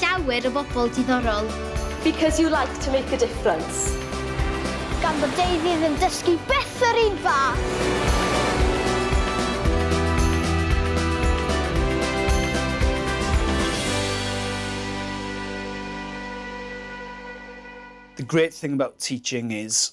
llawer o bobl diddorol. Because you like to make a difference. Gan bod Davey ddim dysgu byth yr un fath! The great thing about teaching is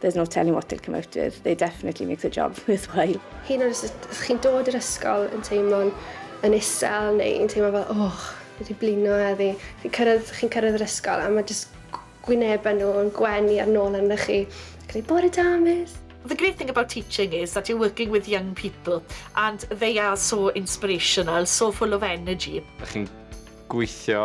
There's no telling what will come out of it. They definitely make the job worthwhile. Hyd yn oed os ydych chi'n dod i'r ysgol yn teimlo'n yn isel neu yn teimlo fel, oh, wedi blino heddi. Chi'n cyrraedd, chi'n cyrraedd yr ysgol a mae jyst gwynebau nhw yn gwenu ar nôl arno chi. Gyda bore da, miss. The great thing about teaching is that you're working with young people and they are so inspirational, so full of energy. Ydych chi'n gweithio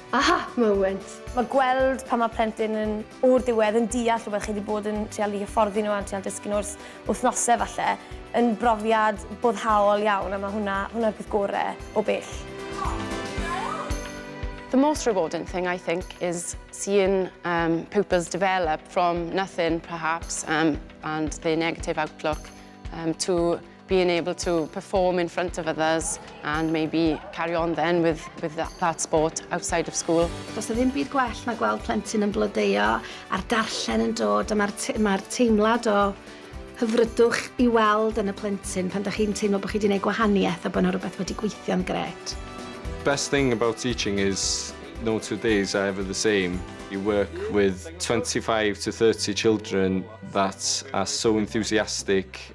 Aha moment! Mae gweld pan mae plentyn yn, o'r diwedd, yn deall rhywbeth chi 'di bod yn trial i hyfforddi nhw a trial dysgu nhw ers wythnosau falle, yn brofiad boddhaol iawn a mae hwnna, hwnna'r peth gore o bell. The most rewarding thing I think is seeing um, pupils develop from nothing perhaps um, and the negative outlook um, to being able to perform in front of others and maybe carry on then with, with that, that sport outside of school. Does na ddim byd gwell na gweld plentyn yn blodeio a'r darllen yn dod a mae'r te ma teimlad o hyfrydwch i weld yn y plentyn pan da chi'n teimlo bod chi wedi gwneud gwahaniaeth a bod yna rhywbeth wedi gweithio'n gret. Best thing about teaching is no two days are ever the same. You work with 25 to 30 children that are so enthusiastic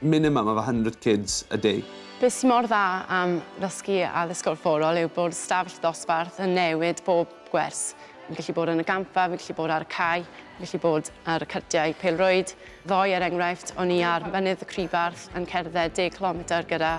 Minimum of a hundred kids a day. Be sy mor dda am ddysgu addysgol fforol yw bod stafell ddosbarth yn newid bob gwers. Fi'n gallu bod yn y gampfa, fi'n gallu bod ar y cae, fi'n gallu bod ar y cyrtiau pêl-rwyd ddoe er enghraifft, o'n i ar Mynydd y Crifarth yn cerdded deg cilometr gyda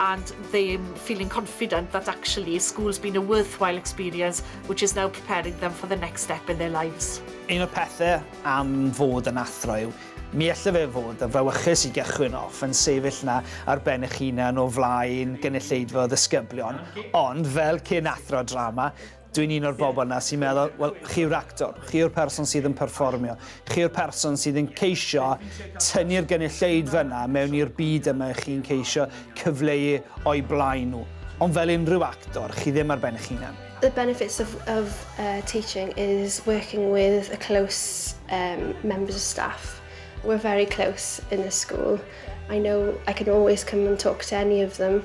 and them feeling confident that actually school's been a worthwhile experience which is now preparing them for the next step in their lives. Un o'r pethau am fod yn athro yw, mi alle fe fod yn frawychus i gychwyn off yn sefyll 'na ar ben eich hunan o flaen gynulleidfa o ddisgyblion, ond fel cyn athro drama, Dwi'n un o'r bobl yna sy'n meddwl, wel, chi yw'r actor, chi yw'r person sydd yn perfformio, chi yw'r person sydd yn ceisio tynnu'r gynulleidfa yna mewn i'r byd yma i chi'n ceisio cyfleu o'i blaen nhw. Ond fel unrhyw actor, chi ddim ar ben eich hunan. The benefits of, of uh, teaching is working with a close um, members of staff. We're very close in the school. I know I can always come and talk to any of them.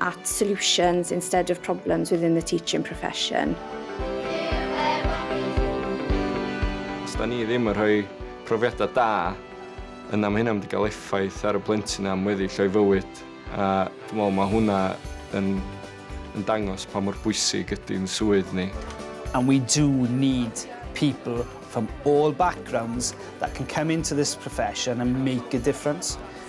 at solutions instead of problems within the teaching profession. Os da ni ddim yn rhoi profiadau da, yna mae hynna'n mynd i gael effaith ar y plentyn am weddill o'i fywyd, a dwi'n meddwl mae hwnna yn, yn dangos pa mor bwysig ydy'n swydd ni. And we do need people from all backgrounds that can come into this profession and make a difference.